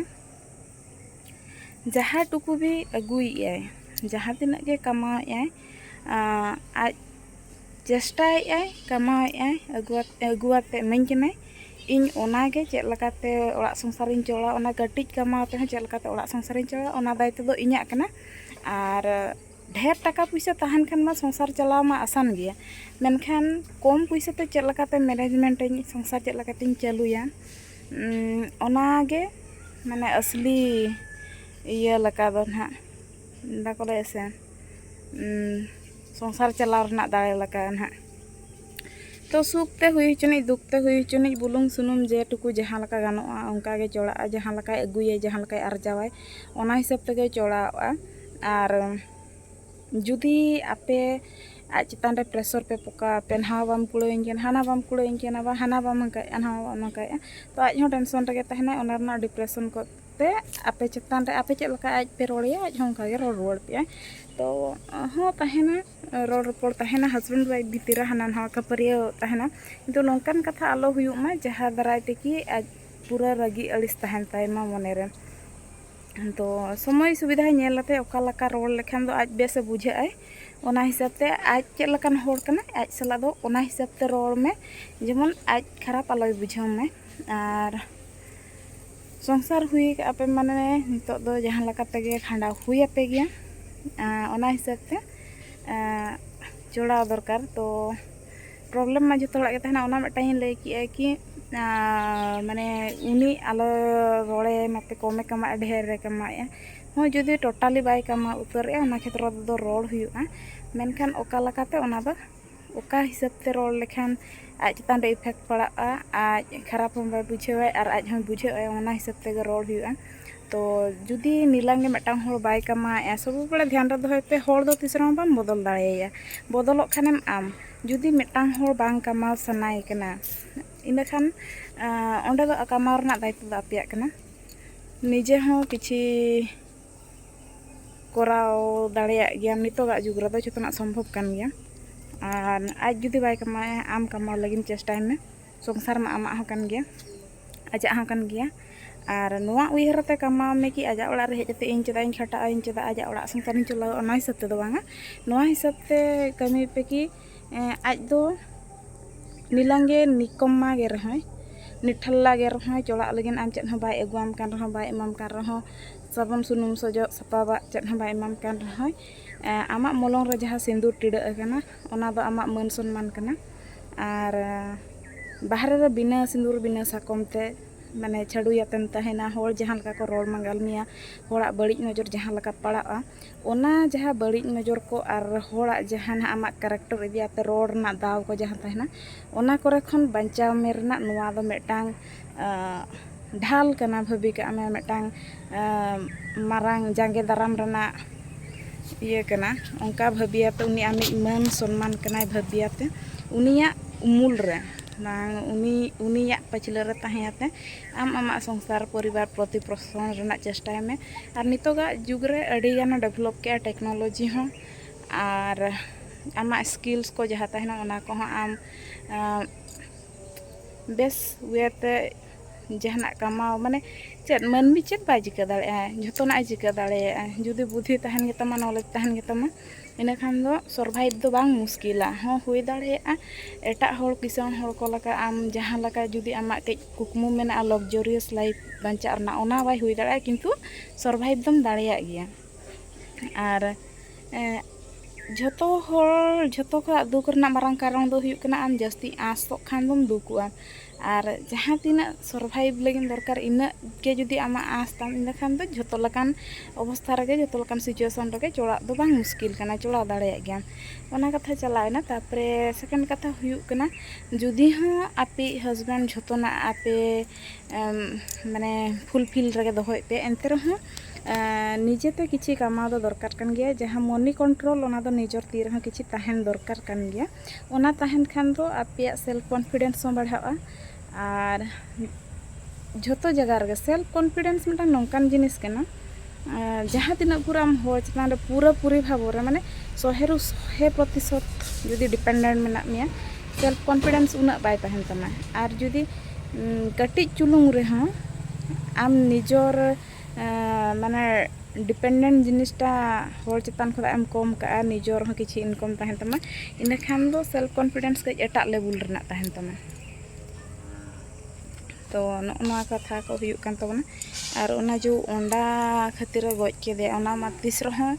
ᱡᱟᱦᱟᱸ ᱴᱩᱠᱩ ᱜᱮ ᱟᱹᱜᱩᱭᱮᱫᱼᱟᱭ ᱡᱟᱦᱟᱸ ᱛᱤᱱᱟᱹᱜ ᱜᱮ ᱠᱟᱢᱟᱣᱮᱫᱼᱟᱭ ᱟᱡ ᱪᱮᱥᱴᱟᱭᱮᱫᱼᱟᱭ ᱠᱟᱢᱟᱣᱮᱫᱼᱟᱭ ᱟᱹᱜᱩᱣᱟᱛᱮ ᱤᱢᱟᱹᱧ ᱠᱟᱱᱟᱭ ᱤᱧ ᱚᱱᱟ ᱜᱮ ᱪᱮᱫ ᱞᱮᱠᱟᱛᱮ ᱚᱲᱟᱜ ᱥᱚᱝᱥᱟᱨᱤᱧ ᱪᱟᱞᱟᱣᱟ ᱚᱱᱟ ᱠᱟᱹᱴᱤᱡ ᱠᱟᱢᱟᱣ ᱛᱮᱦᱚᱸ ᱪᱮᱫ ᱞᱮᱠᱟᱛᱮ ᱚᱲᱟᱜ ᱥᱚᱝᱥᱟᱨᱤᱧ ᱪᱟᱞᱟᱣᱟ ᱚᱱᱟ ᱫᱟᱭᱤᱛᱛᱚ ᱫᱚ ᱤᱧᱟᱹᱜ ᱠᱟᱱᱟ ᱟᱨ ᱰᱷᱮᱨ ᱴᱟᱠᱟ ᱯᱚᱭᱥᱟ ᱛᱟᱦᱮᱱ ᱠᱷᱟᱱ ᱢᱟ ᱥᱚᱝᱥᱟᱨ ᱪᱟᱞᱟᱣ ᱢᱟ ᱟᱥᱟᱱ ᱜᱮᱭᱟ ᱢᱮᱱᱠᱷᱟᱱ ᱠᱚᱢ ᱯᱚᱭᱥᱟ ᱛᱮ ᱪᱮᱫ ᱞᱮᱠᱟᱛᱮ ᱢᱮᱱᱮᱡᱽᱢᱮᱱᱴ ᱟᱹᱧ ᱥᱚᱝᱥᱟᱨ ᱪᱮᱫ ᱞᱮᱠᱟᱛᱤᱧ ᱪᱟᱹᱞᱩᱭᱟ ᱚᱱᱟ ᱜᱮ ᱢᱟᱱᱮ ᱟᱥᱞᱤ ᱤᱭᱟᱹ ᱞᱮᱠᱟ ᱫᱚ ᱱᱟᱦᱟᱜ ᱵᱟᱠᱚ ᱞᱟᱹᱭᱟ ᱥᱮ ᱥᱚᱝᱥᱟᱨ ᱪᱟᱞᱟᱣ ᱨᱮᱱᱟᱜ ᱫᱟᱲᱮ ᱞᱮᱠᱟ ᱱᱟᱦᱟᱜ ᱛᱚ ᱥᱩᱠ ᱛᱮ ᱦᱩᱭ ᱦᱚᱪᱚᱱᱤᱡ ᱫᱩᱠ ᱛᱮ ᱦᱩᱭ ᱦᱚᱪᱚᱱᱤᱡ ᱵᱩᱞᱩᱝ ᱥᱩᱱᱩᱢ ᱡᱮ ᱴᱩᱠᱩ ᱡᱟᱦᱟᱸ ᱞᱮᱠᱟ ᱜᱟᱱᱚᱜᱼᱟ ᱚᱱᱠᱟ ᱜᱮ ᱪᱚᱲᱟᱜᱼᱟ ᱡᱟᱦᱟᱸ ᱞᱮᱠᱟᱭ ᱟᱹᱜᱩᱭᱟᱭ ᱡᱟᱦᱟᱸ ᱞᱮᱠᱟᱭ ᱟᱨᱡᱟᱣᱟᱭ ᱚᱱᱟ ᱦᱤᱥᱟᱹᱵ ᱛᱮᱜᱮ ᱪᱚᱲᱟᱣᱚᱜᱼᱟ ᱟᱨ ᱡᱩᱫᱤ ᱟᱯᱮ ᱟᱡ ᱪᱮᱛᱟᱱ ᱨᱮ ᱯᱨᱮᱥᱚᱨ ᱯᱮ ᱯᱚᱠᱟᱣ ᱟᱯᱮ ᱱᱚᱣᱟ ᱵᱟᱢ ᱠᱩᱲᱟᱹᱣᱟᱹᱧ ᱠᱟᱱᱟ ᱦᱟᱱᱟ ᱵᱟᱢ ᱠᱩᱲᱟᱹᱣᱟᱹᱧ ᱠᱟᱱᱟ ᱵᱟ ᱦᱟᱱᱟ ᱵᱟᱢ ᱦᱟᱱᱠᱟᱭᱮᱜᱼᱟ ᱱᱚᱣᱟ ᱵᱟᱢ ᱦᱟᱱᱠᱟᱭᱮᱜᱼᱟ ᱛᱚ ᱟᱡ ᱦᱚᱸ ᱴᱮᱱᱥᱚᱱ ᱨᱮᱜᱮ ᱛᱟᱦᱮᱱᱟᱭ ᱚᱱᱟ ᱨᱮᱱᱟᱜ ᱰᱤᱯᱨᱮᱥᱚᱱ ᱠᱚ ᱛᱮ ᱟᱯᱮ ᱪᱮᱛᱟᱱ ᱨᱮ ᱟᱯᱮ ᱪᱮᱫ ᱞᱮᱠᱟ ᱟᱡ ᱯᱮ ᱨᱚᱲ ᱟᱭᱟ ᱟᱡ ᱦᱚᱸ ᱚᱱᱠᱟ ᱜᱮ ᱨᱚᱲ ᱨᱩᱣᱟᱹᱲ ᱯᱮᱭᱟᱭ ᱛᱚ ᱦᱚᱸ ᱛᱟᱦᱮᱱᱟ ᱨᱚᱲ ᱨᱚᱯᱚᱲ ᱛᱟᱦᱮᱱᱟ ᱦᱟᱥᱵᱮᱱᱰ ᱚᱣᱟᱭᱤᱯ ᱵᱷᱤᱛᱤᱨ ᱨᱮ ᱦᱟᱱᱟ ᱱᱚᱣᱟ ᱠᱷᱟᱹᱯᱟᱹᱨᱤᱭᱟᱹᱣ ᱛᱟᱦᱮᱱᱟ ᱠᱤᱱᱛᱩ ᱱᱚᱝᱠᱟᱱ ᱠᱟᱛᱷᱟ ᱟᱞᱚ ᱦᱩᱭᱩᱜ ᱢᱟ ᱡᱟᱦᱟᱸ ᱫᱟᱨᱟᱭ ᱛᱮᱠᱤ ᱟᱡ ᱯᱩᱨᱟᱹ ᱨᱟᱹᱜᱤ ᱟᱹᱲᱤᱥ ᱛᱟᱦᱮᱱ ᱛᱟᱭᱢᱟ ᱢᱚᱱᱮ ᱨᱮ ᱛᱚ ᱥᱚᱢᱚᱭ ᱥᱩᱵᱤᱫᱷᱟ ᱧᱮᱞ ᱠᱟᱛᱮ ᱚᱠᱟ ᱞᱮᱠᱟ ᱨᱚᱲ ᱞᱮᱠᱷᱟᱱ ᱫᱚ ᱟᱡ ᱵᱮᱥᱮ ᱵᱩᱡᱷᱟᱹᱜ ᱟᱭ ᱚᱱᱟ ᱦᱤᱥᱟᱹᱵ ᱛᱮ ᱟᱡ ᱪᱮᱫ ᱞᱮᱠᱟᱱ ᱦᱚᱲ ᱠᱟᱱᱟᱭ ᱟᱡ ᱥᱟᱞᱟᱜ ᱫᱚ ᱚᱱᱟ ᱦᱤᱥᱟᱹᱵ ᱛᱮ ᱨᱚᱲ ᱢᱮ ᱡᱮᱢᱚᱱ ᱟᱡ ᱠᱷᱟᱨᱟᱯ ᱟᱞᱚᱭ ᱵᱩᱡᱷᱟᱹᱣ ᱢᱟᱭ ᱟᱨ ᱥᱚᱝᱥᱟᱨ ᱦᱩᱭ ᱠᱟᱜᱼᱟ ᱯᱮ ᱢᱟᱱᱮ ᱱᱤᱛᱚᱜ ᱫᱚ ᱡᱟᱦᱟᱸ ᱞᱮᱠᱟ ᱛᱮᱜᱮ ᱠᱷᱟᱸᱰᱟᱣ ᱦᱩᱭ ᱟᱯᱮ ᱜᱮᱭᱟ ᱚᱱᱟ ᱦᱤᱥᱟᱹᱵ ᱛᱮ ᱡᱚᱲᱟᱣ ᱫᱚᱨᱠᱟᱨ ᱛᱚ ᱯᱨᱚᱵᱽᱞᱮᱢ ᱢᱟ ᱡᱚᱛᱚ ᱦᱚᱲᱟᱜ ᱜᱮ ᱛᱟᱦᱮᱱᱟ ᱚᱱᱟ ᱢᱤᱫᱴᱟᱝ ᱤᱧ ᱞᱟᱹᱭ ᱠᱮᱜᱼᱟ ᱠᱤ ᱢᱟᱱᱮ ᱩᱱᱤ ᱟᱞᱚ ᱨᱚᱲᱮ ᱢᱟᱯᱮ ᱠᱚᱢᱮ ᱠᱟᱢᱟᱣᱮᱜᱼᱟ ᱰᱷᱮᱨᱮ ᱠᱟᱢᱟᱣᱮᱜᱼᱟ ᱦᱚᱸ ᱡᱩᱫᱤ ᱴᱳᱴᱟᱞᱤ ᱵᱟᱭ ᱠᱟᱢᱟᱣ ᱩᱛᱟᱹᱨᱮᱜᱼᱟ ᱚᱱᱟ ᱠᱷᱮᱛᱨᱚ ᱨᱮᱫᱚ ᱨᱚᱲ ᱦᱩᱭᱩᱜᱼᱟ ᱢᱮᱱᱠᱷᱟᱱ ᱚᱠᱟ ᱞᱮᱠᱟᱛᱮ ᱚᱱᱟ ᱫᱚ ᱚᱠᱟ ᱦᱤᱥᱟᱹᱵ ᱛᱮ ᱨᱚᱲ ᱞᱮᱠᱷᱟᱱ ᱟᱡ ᱪᱮᱛᱟᱱ ᱨᱮ ᱤᱯᱷᱮᱠᱴ ᱯᱟᱲᱟᱜᱼᱟ ᱟᱡ ᱠᱷᱟᱨᱟᱯ ᱦᱚᱸ ᱵᱟᱭ ᱵᱩᱡᱷᱟᱹᱣᱟᱭ ᱟᱨ ᱟᱡ ᱦᱚᱸᱭ ᱵᱩᱡᱷᱟᱹᱜᱼᱟᱭ ᱚᱱᱟ ᱦᱤᱥᱟᱹᱵ ᱛᱮᱜᱮ ᱨᱚᱲ ᱦᱩᱭᱩᱜᱼᱟ ᱛᱚ ᱡᱩᱫᱤ ᱱᱤᱞᱟᱢ ᱜᱮ ᱢᱤᱫᱴᱟᱝ ᱦᱚᱲ ᱵᱟᱭ ᱠᱟᱢᱟᱣᱮᱜᱼᱟ ᱥᱚᱵ ᱵᱟᱲᱮ ᱫᱷᱮᱭᱟᱱ ᱨᱮ ᱫᱚᱦᱚᱭ ᱯᱮ ᱦᱚᱲ ᱫᱚ ᱛᱤᱥ ᱨᱮᱦᱚᱸ ᱵᱟᱢ ᱵᱚᱫᱚᱞ ᱫᱟᱲᱮᱭᱟᱭᱟ ᱵᱚᱫᱚᱞᱚᱜ ᱠᱷᱟᱱᱮᱢ ᱟᱢ ᱡᱩᱫᱤ ᱢᱤᱫᱴᱟᱝ ᱦᱚᱲ ᱵᱟᱝ ᱠᱟᱢᱟᱣ ᱥᱟᱱᱟᱭᱮ ᱠᱟᱱᱟ ᱤᱱᱟᱹ ᱠᱷᱟᱱ ᱚᱸᱰᱮ ᱫᱚ ᱠᱟᱢᱟᱣ ᱨᱮᱱᱟᱜ ᱫᱟᱭᱤᱛᱛᱚ ᱫᱚ ᱟᱯᱮᱭᱟᱜ ᱠᱟᱱᱟ ᱱᱤᱡᱮ ᱦᱚᱸ ᱠᱤᱪᱷᱤ ᱠᱚᱨᱟᱣ ᱫᱟᱲᱮᱭᱟᱜ ᱜᱮᱭᱟᱢ ᱱᱤᱛᱚᱜᱟᱜ ᱡᱩᱜᱽ ᱨᱮᱫᱚ ᱡᱚᱛᱚᱱᱟᱜ ᱥᱚᱢᱵᱷᱚᱵ ᱠᱟᱱ ᱜᱮᱭᱟ ᱟᱨ ᱟᱡ ᱡᱩᱫᱤ ᱵᱟᱭ ᱠᱟᱢᱟᱣᱮᱜᱼᱟ ᱟᱢ ᱠᱟᱢᱟᱣ ᱞᱟᱹᱜᱤᱫ ᱪᱮᱥᱴᱟᱭ ᱢᱮ ᱥᱚᱝᱥᱟᱨ ᱢᱟ ᱟᱢᱟᱜ ᱦᱚᱸ ᱠᱟᱱ ᱜᱮᱭᱟ ᱟᱡᱟᱜ ᱦᱚᱸ ᱠᱟᱱ ᱜᱮᱭᱟ ᱟᱨ ᱱᱚᱣᱟ ᱩᱭᱦᱟᱹᱨ ᱟᱛᱮ ᱠᱟᱢᱟᱣ ᱢᱮ ᱠᱤ ᱟᱡᱟᱜ ᱚᱲᱟᱜ ᱨᱮ ᱦᱮᱡ ᱠᱟᱛᱮ ᱤᱧ ᱪᱮᱫᱟᱜ ᱤᱧ ᱠᱷᱟᱴᱟᱜᱼᱟ ᱤᱧ ᱪᱮᱫᱟᱜ ᱟᱡᱟᱜ ᱚᱲᱟᱜ ᱥᱚᱝᱥᱟᱨᱤᱧ ᱪᱟᱞᱟᱣᱟ ᱚᱱᱟ ᱦᱤᱥᱟᱹᱵ ᱛᱮᱫᱚ ᱵᱟᱝᱟ ᱱᱚᱣᱟ ᱦᱤᱥᱟᱹᱵ ᱛᱮ ᱠᱟᱹᱢᱤ ᱯᱮ ᱠᱤ ᱟᱡ ᱫᱚ ᱱᱤᱞᱟᱝ ᱜᱮ ᱱᱤᱠᱚᱢᱢᱟ ᱜᱮ ᱨᱮᱦᱚᱸᱭ ᱱᱤᱴᱷᱟᱞᱞᱟ ᱜᱮ ᱨᱮᱦᱚᱸᱭ ᱪᱚᱲᱟᱜ ᱞᱟᱹᱜᱤᱫ ᱟᱢ ᱪᱮᱫ ᱦᱚᱸ ᱵᱟᱭ ᱟᱹᱜᱩᱣᱟᱢ ᱠᱟᱱ ᱨᱮᱦᱚᱸ ᱵᱟᱭ ᱮᱢᱟᱢ ᱠᱟᱱ ᱨᱮᱦᱚᱸ ᱥᱟᱵᱚᱱ ᱥᱩᱱᱩᱢ ᱥᱚᱡᱚᱜ ᱥᱟᱯᱟᱵᱟᱜ ᱪᱮᱫ ᱦᱚᱸ ᱵᱟᱭ ᱮᱢᱟᱢ ᱠᱟᱱ ᱨᱮᱦᱚᱸᱭ ᱟᱢᱟᱜ ᱢᱚᱞᱚᱝ ᱨᱮ ᱡᱟᱦᱟᱸ ᱥᱤᱸᱫᱩᱨ ᱴᱤᱰᱟᱹᱜ ᱟᱠᱟᱱᱟ ᱚᱱᱟ ᱫᱚ ᱟᱢᱟᱜ ᱢᱟᱹᱱ ᱥᱚᱱᱢᱟᱱ ᱠᱟᱱᱟ ᱟᱨ ᱵᱟᱦᱨᱮ ᱨᱮ ᱵᱤᱱᱟᱹ ᱥᱤᱸᱫᱩᱨ ᱵᱤᱱᱟᱹ ᱥᱟᱠᱚᱢ ᱛᱮ ᱢᱟᱱᱮ ᱪᱷᱟᱹᱰᱩᱭᱟᱛᱮᱢ ᱛᱟᱦᱮᱱᱟ ᱦᱚᱲ ᱡᱟᱦᱟᱸ ᱞᱮᱠᱟ ᱠᱚ ᱨᱚᱲ ᱢᱟᱸᱜᱟᱞ ᱢᱮᱭᱟ ᱦᱚᱲᱟᱜ ᱵᱟᱹᱲᱤᱡ ᱱᱚᱡᱚᱨ ᱡᱟᱦᱟᱸ ᱞᱮᱠᱟ ᱯᱟᱲᱟᱜᱼᱟ ᱚᱱᱟ ᱡᱟᱦᱟᱸ ᱵᱟᱹᱲᱤᱡ ᱱᱚᱡᱚᱨ ᱠᱚ ᱟᱨ ᱦᱚᱲᱟᱜ ᱡᱟᱦᱟᱸ ᱱᱟᱦᱟᱜ ᱟᱢᱟᱜ ᱠᱮᱨᱮᱠᱴᱟᱨ ᱤᱫᱤ ᱠᱟᱛᱮᱫ ᱨᱚᱲ ᱨᱮᱱᱟᱜ ᱫᱟᱣ ᱠᱚ ᱡᱟᱦᱟᱸ ᱛᱟᱦᱮᱱᱟ ᱚᱱᱟ ᱠᱚᱨᱮ ᱠᱷᱚᱱ ᱵᱟᱧᱪᱟᱣ ᱢᱮ ᱨᱮᱱᱟᱜ ᱱᱚᱣᱟ ᱫᱚ ᱢᱤᱫᱴᱟᱝ ᱰᱷᱟᱞ ᱠᱟᱱᱟ ᱵᱷᱟᱹᱵᱤ ᱠᱟᱜ ᱢᱮ ᱢᱤᱫᱴᱟᱝ ᱢᱟᱨᱟᱝ ᱡᱟᱸᱜᱮ ᱫᱟᱨᱟᱢ ᱨᱮᱱᱟᱜ ᱤᱭᱟᱹ ᱠᱟᱱᱟ ᱚᱱᱠᱟ ᱵᱷᱟᱹᱵᱤᱭᱟᱛᱮ ᱩᱱᱤ ᱟᱢᱤᱡ ᱢᱟᱹᱱ ᱥᱚᱱᱢᱟᱱ ᱠᱟᱱᱟᱭ ᱵᱷᱟᱹᱵᱤᱭᱟᱛᱮ ᱩᱱᱤᱭᱟᱜ ᱩᱢᱩᱞ ᱨᱮ ᱵᱟᱝ ᱩᱱᱤ ᱩᱱᱤᱭᱟᱜ ᱯᱟᱹᱪᱷᱞᱟᱹ ᱨᱮ ᱛᱟᱦᱮᱸᱭᱟᱛᱮ ᱟᱢ ᱟᱢᱟᱜ ᱥᱚᱝᱥᱟᱨ ᱯᱚᱨᱤᱵᱟᱨ ᱯᱨᱚᱛᱤ ᱯᱨᱚᱥᱚᱱ ᱨᱮᱱᱟᱜ ᱪᱮᱥᱴᱟᱭ ᱢᱮ ᱟᱨ ᱱᱤᱛᱚᱜᱟᱜ ᱡᱩᱜᱽ ᱨᱮ ᱟᱹᱰᱤ ᱜᱟᱱᱮ ᱰᱮᱵᱷᱞᱚᱯ ᱠᱮᱜᱼᱟ ᱴᱮᱠᱱᱳᱞᱚᱡᱤ ᱦᱚᱸ ᱟᱨ ᱟᱢᱟᱜ ᱥᱠᱤᱞᱥ ᱠᱚ ᱡᱟᱦᱟᱸ ᱛᱟᱦᱮᱱᱟ ᱚᱱᱟ ᱠᱚᱦᱚᱸ ᱟᱢ ᱵᱮᱥ ᱤᱭᱟᱹᱛᱮ ᱡᱟᱦᱟᱱᱟᱜ ᱠᱟᱢᱟᱣ ᱢᱟᱱᱮ ᱪᱮᱫ ᱢᱟᱹᱱᱢᱤ ᱪᱮᱫ ᱵᱟᱭ ᱪᱤᱠᱟᱹ ᱫᱟᱲᱮᱭᱟᱜᱼᱟ ᱡᱷᱚᱛᱚᱱᱟᱜ ᱮ ᱪᱤᱠᱟᱹ ᱫᱟᱲᱮᱭᱟᱜᱼᱟ ᱡᱩᱫᱤ ᱵᱩᱫᱷᱤ ᱛᱟᱦᱮᱱ ᱜᱮᱛᱟᱢᱟ ᱱᱚᱞᱮᱡᱽ ᱛᱟᱦᱮᱱ ᱜᱮᱛᱟᱢᱟ ᱤᱱᱟᱹ ᱠᱷᱟᱱ ᱫᱚ ᱥᱚᱨᱵᱷᱟᱭᱤᱵᱷ ᱫᱚ ᱵᱟᱝ ᱢᱩᱥᱠᱤᱞᱟ ᱦᱚᱸ ᱦᱩᱭ ᱫᱟᱲᱮᱭᱟᱜᱼᱟ ᱮᱴᱟᱜ ᱦᱚᱲ ᱠᱤᱥᱟᱹᱬ ᱦᱚᱲ ᱠᱚ ᱞᱮᱠᱟ ᱟᱢ ᱡᱟᱦᱟᱸ ᱞᱮᱠᱟ ᱡᱩᱫᱤ ᱟᱢᱟᱜ ᱠᱟᱹᱡ ᱠᱩᱠᱢᱩ ᱢᱮᱱᱟᱜᱼᱟ ᱞᱚᱠᱡᱟᱨᱤᱭᱟᱥ ᱞᱟᱭᱤᱯᱷ ᱵᱟᱧᱪᱟᱜ ᱨᱮᱱᱟᱜ ᱚᱱᱟ ᱵᱟᱭ ᱦᱩᱭ ᱫᱟᱲᱮᱭᱟᱜᱼᱟ ᱠᱤᱱᱛᱩ ᱥᱚᱨᱵᱷᱟᱭᱤᱵᱷ ᱫᱚᱢ ᱫᱟᱲᱮᱭᱟᱜ ᱜᱮᱭᱟ ᱟᱨ ᱡᱷᱚᱛᱚ ᱦᱚᱲ ᱡᱷᱚᱛᱚ ᱠᱷᱚᱱᱟᱜ ᱫᱩᱠ ᱨᱮᱱᱟᱜ ᱢᱟᱨᱟᱝ ᱠᱟᱨᱚᱱ ᱫᱚ ᱦᱩᱭᱩᱜ ᱠᱟᱱᱟ ᱟᱢ ᱡᱟᱹᱥᱛᱤ ᱟᱸᱥᱚᱜ ᱠᱷᱟᱱ ᱫᱚᱢ ᱫᱩᱠᱩᱜᱼᱟ ᱟᱨ ᱡᱟᱦᱟᱸ ᱛᱤᱱᱟᱹᱜ ᱥᱚᱨᱵᱷᱟᱭᱤᱵᱽ ᱞᱟᱹᱜᱤᱫ ᱫᱚᱨᱠᱟᱨ ᱤᱱᱟᱹᱜ ᱜᱮ ᱡᱩᱫᱤ ᱟᱢᱟᱜ ᱟᱸᱥ ᱛᱟᱢ ᱤᱱᱟᱹ ᱠᱷᱟᱱ ᱫᱚ ᱡᱷᱚᱛᱚ ᱞᱮᱠᱟᱱ ᱚᱵᱚᱥᱛᱷᱟ ᱨᱮᱜᱮ ᱡᱷᱚᱛᱚ ᱞᱮᱠᱟᱱ ᱥᱤᱪᱩᱭᱮᱥᱚᱱ ᱨᱮᱜᱮ ᱪᱟᱞᱟᱜ ᱫᱚ ᱵᱟᱝ ᱢᱩᱥᱠᱤᱞ ᱠᱟᱱᱟ ᱪᱟᱞᱟᱣ ᱫᱟᱲᱮᱭᱟᱜ ᱜᱮᱭᱟᱢ ᱚᱱᱟ ᱠᱟᱛᱷᱟ ᱪᱟᱞᱟᱣᱮᱱᱟ ᱛᱟᱨᱯᱚᱨᱮ ᱥᱮᱠᱮᱱᱰ ᱠᱟᱛᱷᱟ ᱦᱩᱭᱩᱜ ᱠᱟᱱᱟ ᱡᱩᱫᱤ ᱦᱚᱸ ᱟᱯᱮᱭᱤᱡ ᱦᱟᱥᱵᱮᱱᱰ ᱡᱚᱛᱚᱱᱟᱜ ᱟᱯᱮ ᱢᱟᱱᱮ ᱯᱷᱩᱞᱯᱷᱤᱞ ᱨᱮᱜᱮ ᱫᱚᱦᱚᱭ ᱯᱮ ᱮᱱᱛᱮ ᱨᱮᱦᱚᱸ ᱱᱤᱡᱮᱛᱮ ᱠᱤᱪᱷᱤ ᱠᱟᱢᱟᱣ ᱫᱚ ᱫᱚᱨᱠᱟᱨ ᱠᱟᱱ ᱜᱮᱭᱟ ᱡᱟᱦᱟᱸ ᱢᱚᱱᱤ ᱠᱚᱱᱴᱨᱳᱞ ᱚᱱᱟ ᱫᱚ ᱱᱤᱡᱚᱨ ᱛᱤ ᱨᱮᱦᱚᱸ ᱠᱤᱪᱷᱤ ᱛᱟᱦᱮᱱ ᱫᱚᱨᱠᱟᱨ ᱠᱟᱱ ᱜᱮᱭᱟ ᱚᱱᱟ ᱛᱟᱦᱮᱱ ᱠᱷᱟᱱ ᱫᱚ ᱟᱯᱮᱭᱟᱜ ᱥᱮᱞᱯᱷ ᱠᱚᱱᱯᱷᱤᱰᱮᱱᱥ ᱦᱚᱸ ᱵᱟᱲᱦᱟᱜᱼᱟ ᱟᱨ ᱡᱷᱚᱛᱚ ᱡᱟᱭᱜᱟ ᱨᱮᱜᱮ ᱥᱮᱞᱯᱷ ᱠᱚᱱᱯᱷᱤᱰᱮᱱᱥ ᱢᱤᱫᱴᱟᱝ ᱱᱚᱝᱠᱟᱱ ᱡᱤᱱᱤᱥ ᱠᱟᱱᱟ ᱡᱟᱦᱟᱸ ᱛᱤᱱᱟᱹᱜ ᱯᱩᱨᱟᱹ ᱟᱢ ᱦᱚᱲ ᱪᱮᱛᱟᱱ ᱨᱮ ᱯᱩᱨᱟᱹ ᱯᱩᱨᱤ ᱵᱷᱟᱵᱚ ᱨᱮ ᱢᱟᱱᱮ ᱥᱚᱦᱮᱨᱩ ᱥᱚᱦᱮ ᱯᱨᱚᱛᱤᱥᱚᱛ ᱡᱩᱫᱤ ᱰᱤᱯᱮᱱᱰᱮᱱᱴ ᱢᱮᱱᱟᱜ ᱢᱮᱭᱟ ᱥᱮᱞᱯᱷ ᱠᱚᱱᱯᱷᱤᱰᱮᱱᱥ ᱩᱱᱟᱹᱜ ᱵᱟᱭ ᱛᱟᱦᱮᱱ ᱛᱟᱢᱟ ᱟᱨ ᱡᱩᱫᱤ ᱠᱟᱹᱴᱤᱡ ᱪᱩᱞᱩᱝ ᱨᱮᱦᱚᱸ ᱟᱢ ᱱᱤᱡᱚᱨ ᱢᱟᱱᱮ ᱰᱤᱯᱮᱱᱰᱮᱱᱴ ᱡᱤᱱᱤᱥᱴᱟ ᱦᱚᱲ ᱪᱮᱛᱟᱱ ᱠᱷᱚᱱᱟᱜ ᱮᱢ ᱠᱚᱢ ᱠᱟᱜᱼᱟ ᱱᱤᱡᱚᱨ ᱦᱚᱸ ᱠᱤᱪᱷᱩ ᱤᱱᱠᱚᱢ ᱛᱟᱦᱮᱱ ᱛᱟᱢᱟ ᱤᱱᱟᱹᱠᱷᱟᱱ ᱫᱚ ᱥᱮᱞᱯᱷ ᱠᱚᱱᱯᱷᱤᱰᱮᱱᱥ ᱠᱟᱹᱡ ᱮᱴᱟᱜ ᱞᱮᱵᱮᱞ ᱨᱮᱱᱟᱜ ᱛᱟᱦᱮᱱ ᱛᱟᱢᱟ ᱛᱚ ᱱᱚᱜᱼᱚ ᱱᱚᱣᱟ ᱠᱟᱛᱷᱟ ᱠᱚ ᱦᱩᱭᱩᱜ ᱠᱟᱱ ᱛᱟᱵᱚᱱᱟ ᱟᱨ ᱚᱱᱟ ᱡᱮ ᱚᱱᱟ ᱠᱷᱟᱹᱛᱤᱨᱮ ᱜᱚᱡ ᱠᱮᱫᱮᱭᱟ ᱚᱱᱟ ᱢᱟ ᱛᱤᱥ ᱨᱮᱦᱚᱸ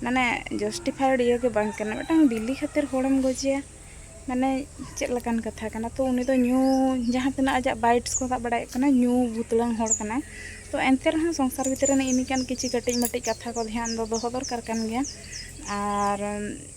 ᱢᱟᱱᱮ ᱡᱟᱥᱴᱤᱯᱷᱟᱭᱤᱰ ᱤᱭᱟᱹ ᱜᱮ ᱵᱟᱝ ᱠᱟᱱᱟ ᱢᱤᱫᱴᱟᱝ ᱵᱤᱞᱤ ᱠᱷᱟᱹᱛᱤᱨ ᱦᱚᱲᱮᱢ ᱜᱚᱡᱮᱭᱟ ᱢᱟᱱᱮ ᱪᱮᱫ ᱞᱮᱠᱟᱱ ᱠᱟᱛᱷᱟ ᱠᱟᱱᱟ ᱛᱚ ᱩᱱᱤ ᱫᱚ ᱧᱩ ᱡᱟᱦᱟᱸ ᱛᱤᱱᱟᱹᱜ ᱟᱡᱟᱜ ᱵᱟᱭᱤᱴᱥ ᱠᱚ ᱥᱟᱵ ᱵᱟᱲᱟᱭᱮᱫ ᱠᱟᱱᱟ ᱧᱩ ᱵᱩᱛᱞᱟᱝ ᱦᱚᱲ ᱠᱟᱱᱟᱭ ᱛᱚ ᱮᱱᱛᱮ ᱨᱮᱦᱚᱸ ᱥᱚᱝᱥᱟᱨ ᱵᱷᱤᱛᱨᱤ ᱨᱮ ᱱᱮᱜᱼᱮ ᱱᱤᱝᱠᱟᱱ ᱠᱤᱪᱷᱤ ᱠᱟᱹᱴᱤᱡ ᱢᱟᱹᱴᱤᱡ ᱠᱟᱛᱷᱟ ᱠᱚ ᱫᱷᱮᱭᱟᱱ ᱫᱚ ᱫᱚᱦᱚ ᱫᱚᱨᱠᱟᱨ ᱠᱟᱱ ᱜᱮᱭᱟ ᱟᱨ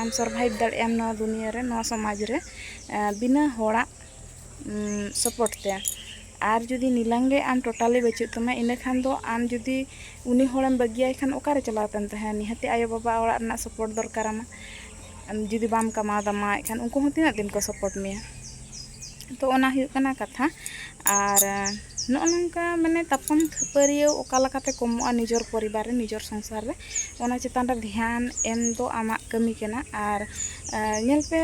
ᱟᱢ ᱥᱚᱨᱵᱷᱟᱭᱤᱵᱷ ᱫᱟᱲᱮᱭᱟᱜ ᱟᱢ ᱱᱚᱣᱟ ᱫᱩᱱᱤᱭᱟᱹ ᱨᱮ ᱱᱚᱣᱟ ᱥᱚᱢᱟᱡᱽ ᱨᱮ ᱵᱤᱱᱟᱹ ᱦᱚᱲᱟᱜ ᱥᱟᱯᱳᱨᱴ ᱛᱮ ᱟᱨ ᱡᱩᱫᱤ ᱱᱤᱞᱟᱹᱢ ᱜᱮ ᱟᱢ ᱴᱳᱴᱟᱞᱤ ᱵᱟᱹᱪᱩᱜ ᱛᱟᱢᱟ ᱤᱱᱟᱹ ᱠᱷᱟᱱ ᱫᱚ ᱟᱢ ᱡᱩᱫᱤ ᱩᱱᱤ ᱦᱚᱲᱮᱢ ᱵᱟᱹᱜᱤᱭᱟᱭ ᱠᱷᱟᱱ ᱚᱠᱟᱨᱮ ᱪᱟᱞᱟᱣ ᱠᱟᱛᱮᱢ ᱛᱟᱦᱮᱱᱟ ᱱᱤᱦᱟᱹᱛᱤ ᱟᱭᱳ ᱵᱟᱵᱟ ᱚᱲᱟᱜ ᱨᱮᱱᱟᱜ ᱥᱟᱯᱳᱨᱴ ᱫᱚᱨᱠᱟᱨᱟᱢᱟ ᱡᱩᱫᱤ ᱵᱟᱢ ᱠᱟᱢᱟᱣ ᱫᱟᱢᱟ ᱮᱱᱠᱷᱟᱱ ᱩᱱᱠᱩ ᱦᱚᱸ ᱛᱤᱱᱟᱹᱜ ᱫᱤᱱ ᱠᱚ ᱥᱟᱯᱳᱨᱴ ᱢᱮᱭᱟ ᱛᱚ ᱚᱱᱟ ᱦᱩᱭᱩᱜ ᱠᱟᱱᱟ ᱠᱟᱛᱷᱟ ᱟᱨ ᱱᱚᱜᱼᱚ ᱱᱚᱝᱠᱟ ᱢᱟᱱᱮ ᱛᱟᱯᱟᱢ ᱠᱷᱟᱹᱯᱟᱹᱨᱤᱭᱟᱹ ᱚᱠᱟ ᱞᱮᱠᱟᱛᱮ ᱠᱚᱢᱚᱜᱼᱟ ᱱᱤᱡᱚᱨ ᱯᱚᱨᱤᱵᱟᱨ ᱨᱮ ᱱᱤᱡᱚᱨ ᱥᱚᱝᱥᱟᱨ ᱨᱮ ᱚᱱᱟ ᱪᱮᱛᱟᱱ ᱨᱮ ᱫᱷᱮᱭᱟᱱ ᱮᱢ ᱫᱚ ᱟᱢᱟᱜ ᱠᱟᱹᱢᱤ ᱠᱟᱱᱟ ᱟᱨ ᱧᱮᱞ ᱯᱮ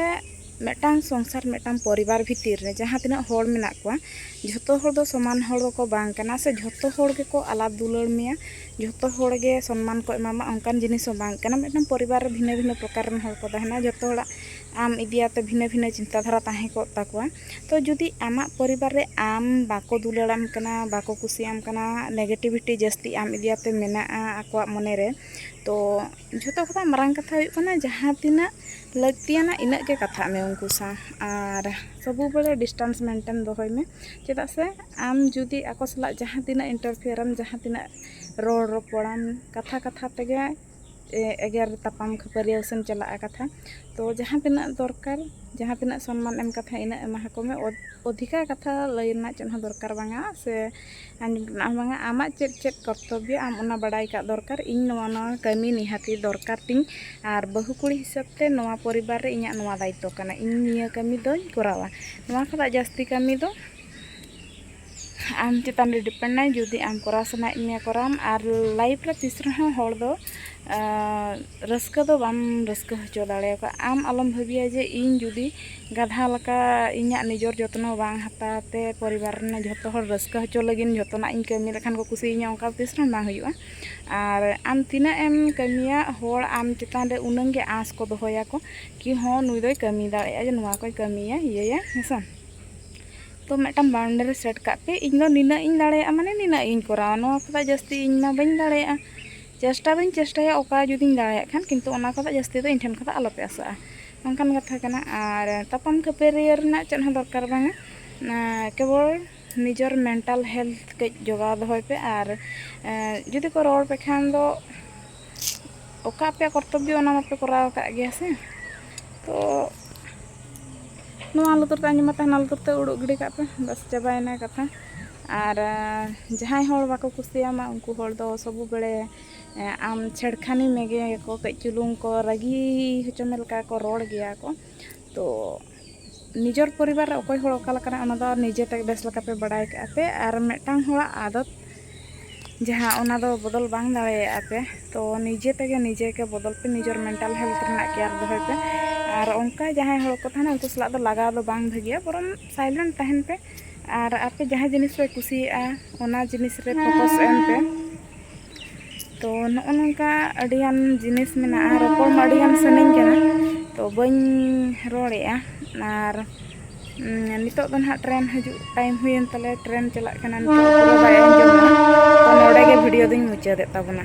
ᱢᱤᱫᱴᱟᱝ ᱥᱚᱝᱥᱟᱨ ᱢᱤᱫᱴᱟᱝ ᱯᱚᱨᱤᱵᱟᱨ ᱵᱷᱤᱛᱤᱨ ᱨᱮ ᱡᱟᱦᱟᱸ ᱛᱤᱱᱟᱹᱜ ᱦᱚᱲ ᱢᱮᱱᱟᱜ ᱠᱚᱣᱟ ᱡᱷᱚᱛᱚ ᱦᱚᱲ ᱫᱚ ᱥᱚᱢᱟᱱ ᱦᱚᱲ ᱫᱚᱠᱚ ᱵᱟᱝ ᱠᱟᱱᱟ ᱥᱮ ᱡᱷᱚᱛᱚ ᱦᱚᱲ ᱜᱮᱠᱚ ᱟᱞᱟᱫ ᱫᱩᱞᱟᱹᱲ ᱢᱮᱭᱟ ᱡᱷᱚᱛᱚ ᱦᱚᱲ ᱜᱮ ᱥᱚᱱᱢᱟᱱ ᱠᱚ ᱮᱢᱟᱢᱟ ᱚᱱᱠᱟᱱ ᱡᱤᱱᱤᱥ ᱦᱚᱸ ᱵᱟᱝ ᱠᱟᱱᱟ ᱢᱤᱫᱴᱟᱝ ᱯᱚᱨᱤᱵᱟᱨ ᱨᱮ ᱵᱷᱤᱱᱟᱹ ᱵᱷᱤᱱᱟᱹ ᱯᱨᱚᱠᱟᱨ ᱨᱮᱱ ᱦᱚᱲ ᱠᱚ ᱛᱟᱦᱮᱱᱟ ᱡᱷᱚᱛᱚ ᱦᱚᱲᱟᱜ ᱟᱢ ᱤᱫᱤᱭᱟᱛᱮ ᱵᱷᱤᱱᱟᱹ ᱵᱷᱤᱱᱟᱹ ᱪᱤᱱᱛᱟ ᱫᱷᱟᱨᱟ ᱛᱟᱦᱮᱸ ᱠᱚᱜ ᱛᱟᱠᱚᱣᱟ ᱛᱚ ᱡᱩᱫᱤ ᱟᱢᱟᱜ ᱯᱚᱨᱤᱵᱟᱨ ᱨᱮ ᱟᱢ ᱵᱟᱠᱚ ᱫᱩᱞᱟᱹᱲᱟᱢ ᱠᱟᱱᱟ ᱵᱟᱠᱚ ᱠᱩᱥᱤᱭᱟᱢ ᱠᱟᱱᱟ ᱱᱮᱜᱮᱴᱤᱵᱷᱤᱴᱤ ᱡᱟᱹᱥᱛᱤ ᱟᱢ ᱤᱫᱤᱭᱟᱛᱮ ᱢᱮᱱᱟᱜᱼᱟ ᱟᱠᱚᱣᱟᱜ ᱢᱚᱱᱮ ᱨᱮ ᱛᱚ ᱡᱷᱚᱛᱚ ᱠᱷᱚᱱᱟᱜ ᱢᱟᱨᱟᱝ ᱠᱟᱛᱷᱟ ᱦᱩᱭᱩᱜ ᱠᱟᱱᱟ ᱡᱟᱦᱟᱸ ᱛᱤᱱᱟᱹᱜ ᱞᱟᱹᱠᱛᱤᱭᱟᱱᱟ ᱤᱱᱟᱹᱜ ᱜᱮ ᱠᱟᱛᱷᱟᱜ ᱢᱮ ᱩᱱᱠᱩ ᱥᱟᱶ ᱟᱨ ᱥᱚᱵᱩ ᱵᱮᱲᱮ ᱰᱤᱥᱴᱟᱱᱥ ᱢᱮᱱᱴᱮᱱ ᱫᱚᱦᱚᱭ ᱢᱮ ᱪᱮᱫᱟᱜ ᱥᱮ ᱟᱢ ᱡᱩᱫᱤ ᱟᱠᱚ ᱥᱟᱞᱟᱜ ᱡᱟᱦᱟᱸ ᱛᱤᱱᱟᱹᱜ ᱤᱱᱴᱟᱨᱯᱷᱮᱭᱟᱨᱟᱢ ᱡᱟᱦᱟᱸ ᱛᱤᱱᱟᱹᱜ ᱨᱚᱲ ᱨᱚᱯᱚᱲᱟᱢ ᱠᱟᱛᱷᱟ ᱠᱟᱛᱷᱟ ᱛᱮᱜᱮ ᱮᱜᱮᱨ ᱛᱟᱯᱟᱢ ᱠᱷᱟᱹᱯᱟᱹᱨᱤᱭᱟᱹ ᱥᱮᱢ ᱪᱟᱞᱟᱜᱼᱟ ᱠᱟᱛᱷᱟ ᱛᱚ ᱡᱟᱦᱟᱸ ᱛᱤᱱᱟᱹᱜ ᱫᱚᱨᱠᱟᱨ ᱡᱟᱦᱟᱸ ᱛᱤᱱᱟᱹᱜ ᱥᱚᱱᱢᱟᱱ ᱮᱢ ᱠᱟᱛᱷᱟ ᱤᱱᱟᱹᱜ ᱮᱢᱟ ᱟᱠᱚ ᱢᱮ ᱚᱫᱷᱤᱠᱟ ᱠᱟᱛᱷᱟ ᱞᱟᱹᱭ ᱨᱮᱱᱟᱜ ᱪᱮᱫ ᱦᱚᱸ ᱫᱚᱨᱠᱟᱨ ᱵᱟᱝᱟ ᱥᱮ ᱟᱸᱡᱚᱢ ᱨᱮᱱᱟᱜ ᱦᱚᱸ ᱵᱟᱝᱟ ᱟᱢᱟᱜ ᱪᱮᱫ ᱪᱮᱫ ᱠᱚᱨᱛᱚᱵᱵᱚ ᱟᱢ ᱚᱱᱟ ᱵᱟᱲᱟᱭ ᱠᱟᱜ ᱫᱚᱨᱠᱟᱨ ᱤᱧ ᱱᱚᱣᱟ ᱱᱚᱣᱟ ᱠᱟᱹᱢᱤ ᱱᱤᱦᱟᱹᱛᱤ ᱫᱚᱨᱠᱟᱨ ᱛᱤᱧ ᱟᱨ ᱵᱟᱹᱦᱩ ᱠᱩᱲᱤ ᱦᱤᱥᱟᱹᱵ ᱛᱮ ᱱᱚᱣᱟ ᱯᱚᱨᱤᱵᱟᱨ ᱨᱮ ᱤᱧᱟᱹᱜ ᱱᱚᱣᱟ ᱫᱟᱭᱤᱛᱛᱚ ᱠᱟᱱᱟ ᱤᱧ ᱱᱤᱭᱟᱹ ᱠᱟᱹᱢᱤ ᱫᱚᱧ ᱠᱚᱨᱟᱣᱟ ᱱᱚᱣᱟ ᱠᱷᱚᱱᱟᱜ ᱡᱟᱹᱥᱛᱤ ᱠᱟᱹᱢᱤ ᱫᱚ ᱟᱢ ᱪᱮᱛᱟᱱ ᱨᱮ ᱰᱤᱯᱮᱱᱰ ᱟᱭ ᱡᱩᱫᱤ ᱟᱢ ᱠᱚᱨᱟᱣ ᱥᱟᱱᱟᱭᱮᱫ ᱢᱮᱭᱟ ᱠᱚᱨᱟᱣᱟᱢ ᱟᱨ ᱞᱟᱭᱤᱯᱷ ᱨᱮ ᱛᱤᱥ ᱨᱮᱦᱚᱸ ᱦᱚᱲ ᱫᱚ ᱨᱟᱹᱥᱠᱟᱹ ᱫᱚ ᱵᱟᱢ ᱨᱟᱹᱥᱠᱟᱹ ᱦᱚᱪᱚ ᱫᱟᱲᱮᱭᱟᱠᱚᱣᱟ ᱟᱢ ᱟᱞᱚᱢ ᱵᱷᱟᱹᱵᱤᱭᱟ ᱡᱮ ᱤᱧ ᱡᱩᱫᱤ ᱜᱟᱫᱷᱟ ᱞᱮᱠᱟ ᱤᱧᱟᱹᱜ ᱱᱤᱡᱚᱨ ᱡᱚᱛᱱᱚ ᱵᱟᱝ ᱦᱟᱛᱟᱣ ᱛᱮ ᱯᱚᱨᱤᱵᱟᱨ ᱨᱮᱱ ᱡᱚᱛᱚ ᱦᱚᱲ ᱨᱟᱹᱥᱠᱟᱹ ᱦᱚᱪᱚ ᱞᱟᱹᱜᱤᱫ ᱡᱚᱛᱚᱱᱟᱜ ᱤᱧ ᱠᱟᱹᱢᱤ ᱞᱮᱠᱷᱟᱱ ᱠᱚ ᱠᱩᱥᱤᱭᱟᱹᱧᱟ ᱚᱱᱠᱟ ᱫᱚ ᱛᱤᱥ ᱨᱮᱦᱚᱸ ᱵᱟᱝ ᱦᱩᱭᱩᱜᱼᱟ ᱟᱨ ᱟᱢ ᱛᱤᱱᱟᱹᱜ ᱮᱢ ᱠᱟᱹᱢᱤᱭᱟ ᱦᱚᱲ ᱟᱢ ᱪᱮᱛᱟᱱ ᱨᱮ ᱩᱱᱟᱹᱜ ᱜᱮ ᱟᱸᱥ ᱠᱚ ᱫᱚᱦᱚᱭᱟᱠᱚ ᱠᱤ ᱦᱚᱸ ᱱᱩᱭ ᱫᱚᱭ ᱠᱟᱹᱢᱤ ᱫᱟᱲᱮᱭᱟᱜᱼᱟ ᱱᱚᱣᱟ ᱠᱚᱭ ᱠᱟᱹᱢᱤᱭᱟ ᱤᱭᱟᱹᱭᱟ ᱦᱮᱸ ᱥᱮ ᱛᱚ ᱢᱤᱫᱴᱟᱝ ᱵᱟᱣᱩᱱᱰᱟᱨᱤ ᱥᱮᱴ ᱠᱟᱜ ᱯᱮ ᱤᱧ ᱫᱚ ᱱᱤᱱᱟᱹᱜ ᱤᱧ ᱫᱟᱲᱮᱭᱟᱜᱼᱟ ᱢᱟᱱᱮ ᱱᱤᱱᱟᱹᱜ ᱤᱧ ᱠᱚᱨᱟᱣᱟ ᱱᱚᱣᱟ ᱠᱷᱚᱱᱟᱜ ᱡᱟᱹᱥᱛᱤ ᱤᱧ ᱢᱟ ᱵᱟᱹᱧ ᱫᱟᱲᱮᱭᱟᱜᱼᱟ ᱪᱮᱥᱴᱟ ᱫᱚᱧ ᱪᱮᱥᱴᱟᱭᱟ ᱚᱠᱟ ᱡᱩᱫᱤᱧ ᱫᱟᱲᱮᱭᱟᱜ ᱠᱷᱟᱱ ᱠᱤᱱᱛᱩ ᱚᱱᱟ ᱠᱷᱚᱱᱟᱜ ᱡᱟᱹᱥᱛᱤ ᱫᱚ ᱤᱧ ᱴᱷᱮᱱ ᱠᱷᱚᱱᱟᱜ ᱟᱞᱚ ᱯᱮ ᱟᱥᱟᱜᱼᱟ ᱚᱱᱠᱟᱱ ᱠᱟᱛᱷᱟ ᱠᱟᱱᱟ ᱟᱨ ᱛᱟᱯᱟᱢ ᱠᱷᱟᱹᱯᱟᱹᱨᱤ ᱨᱮᱱᱟᱜ ᱪᱮᱫ ᱦᱚᱸ ᱫᱚᱨᱠᱟᱨ ᱵᱟᱝᱟ ᱠᱮᱵᱚᱞ ᱱᱤᱡᱚᱨ ᱢᱮᱱᱴᱟᱞ ᱦᱮᱞᱛᱷ ᱠᱟᱹᱡ ᱡᱚᱜᱟᱣ ᱫᱚᱦᱚᱭ ᱯᱮ ᱟᱨ ᱡᱩᱫᱤ ᱠᱚ ᱨᱚᱲ ᱯᱮ ᱠᱷᱟᱱ ᱫᱚ ᱚᱠᱟ ᱟᱯᱮᱭᱟᱜ ᱠᱚᱨᱛᱚᱵᱽᱵᱚ ᱚᱱᱟ ᱢᱟᱯᱮ ᱠᱚᱨᱟᱣ ᱟᱠᱟᱫ ᱜᱮᱭᱟ ᱥᱮ ᱛᱚ ᱱᱚᱣᱟ ᱞᱩᱛᱩᱨ ᱛᱮ ᱟᱸᱡᱚᱢ ᱠᱟᱛᱮ ᱦᱟᱱᱟ ᱞᱩᱛᱩᱨ ᱛᱮ ᱩᱰᱩᱠ ᱜᱤᱰᱤ ᱠᱟᱜ ᱯᱮ ᱵᱟᱥ ᱪᱟᱵᱟᱭᱮᱱᱟ ᱠᱟᱛᱷᱟ ᱟᱨ ᱡᱟᱦᱟᱸᱭ ᱦᱚᱲ ᱵᱟᱠᱚ ᱠᱩᱥᱤᱭᱟᱢᱟ ᱩᱱᱠᱩ ᱦᱚᱲ ᱫᱚ ᱥᱚᱵᱩ ᱵᱮᱲᱮ ᱟᱢ ᱪᱷᱮᱲᱠᱷᱟᱱᱤ ᱢᱮᱜᱮᱭᱟᱠᱚ ᱠᱟᱹᱡ ᱪᱩᱞᱩᱝ ᱠᱚ ᱨᱟᱹᱜᱤ ᱦᱚᱪᱚ ᱢᱮ ᱞᱮᱠᱟ ᱠᱚ ᱨᱚᱲ ᱜᱮᱭᱟ ᱠᱚ ᱛᱚ ᱱᱤᱡᱚᱨ ᱯᱚᱨᱤᱵᱟᱨ ᱨᱮ ᱚᱠᱚᱭ ᱦᱚᱲ ᱚᱠᱟ ᱞᱮᱠᱟᱱᱟ ᱚᱱᱟ ᱫᱚ ᱱᱤᱡᱮ ᱛᱮ ᱵᱮᱥ ᱞᱮᱠᱟ ᱯᱮ ᱵᱟᱲᱟᱭ ᱠᱟᱜᱼᱟ ᱯᱮ ᱟᱨ ᱢᱤᱫᱴᱟᱝ ᱦᱚᱲᱟᱜ ᱟᱫᱚᱛ ᱡᱟᱦᱟᱸ ᱚᱱᱟ ᱫᱚ ᱵᱚᱫᱚᱞ ᱵᱟᱝ ᱫᱟᱲᱮᱭᱟᱜᱼᱟ ᱯᱮ ᱛᱚ ᱱᱤᱡᱮ ᱛᱮᱜᱮ ᱱᱤᱡᱮ ᱜᱮ ᱵᱚᱫᱚᱞ ᱯᱮ ᱱᱤᱡᱚᱨ ᱢᱮᱱᱴᱟᱞ ᱦᱮᱞᱛᱷ ᱨᱮᱱᱟᱜ ᱠᱮᱭᱟᱨ ᱫᱚᱦᱚᱭ ᱯᱮ ᱟᱨ ᱚᱱᱠᱟ ᱡᱟᱦᱟᱸᱭ ᱦᱚᱲ ᱠᱚ ᱛᱟᱦᱮᱱᱟ ᱩᱱᱠᱩ ᱥᱟᱞᱟᱜ ᱫᱚ ᱞᱟᱜᱟᱣ ᱫᱚ ᱵᱟᱝ ᱵᱷᱟᱹᱜᱤᱭᱟ ᱵᱚᱨᱚᱝ ᱥᱟᱭᱞᱮᱱᱴ ᱛᱟᱦᱮᱱ ᱯᱮ ᱟᱨ ᱟᱯᱮ ᱡᱟᱦᱟᱸ ᱡᱤᱱᱤᱥ ᱯᱮ ᱠᱩᱥᱤᱭᱟᱜᱼᱟ ᱚᱱᱟ ᱡᱤᱱᱤᱥ ᱨᱮ ᱯᱷᱳᱠᱟᱥ ᱮᱢ ᱯᱮ ᱛᱚ ᱱᱚᱜᱼᱚ ᱱᱚᱝᱠᱟ ᱟᱹᱰᱤᱜᱟᱱ ᱡᱤᱱᱤᱥ ᱢᱮᱱᱟᱜᱼᱟ ᱨᱚᱯᱚᱲ ᱢᱟ ᱟᱹᱰᱤᱜᱟᱱ ᱥᱟᱱᱟᱧ ᱠᱟᱱᱟ ᱛᱚ ᱵᱟᱹᱧ ᱨᱚᱲᱮᱜᱼᱟ ᱟᱨ ᱱᱤᱛᱚᱜ ᱫᱚ ᱱᱟᱦᱟᱜ ᱴᱨᱮᱱ ᱦᱤᱡᱩᱜ ᱴᱟᱭᱤᱢ ᱦᱩᱭᱮᱱ ᱛᱟᱞᱮ ᱴᱨᱮᱱ ᱪᱟᱞᱟᱜ ᱠᱟᱱᱟ ᱱᱤᱛᱚᱜ ᱯᱩᱨᱟᱹ ᱵᱟᱭ ᱟᱸᱡᱚᱢᱚᱜᱼᱟ ᱛᱚ ᱱᱚᱰᱮ ᱜᱮ ᱵᱷᱤᱰᱤᱭᱳ ᱫᱚᱧ ᱢᱩᱪᱟᱹᱫᱮᱫ ᱛᱟᱵᱚᱱᱟ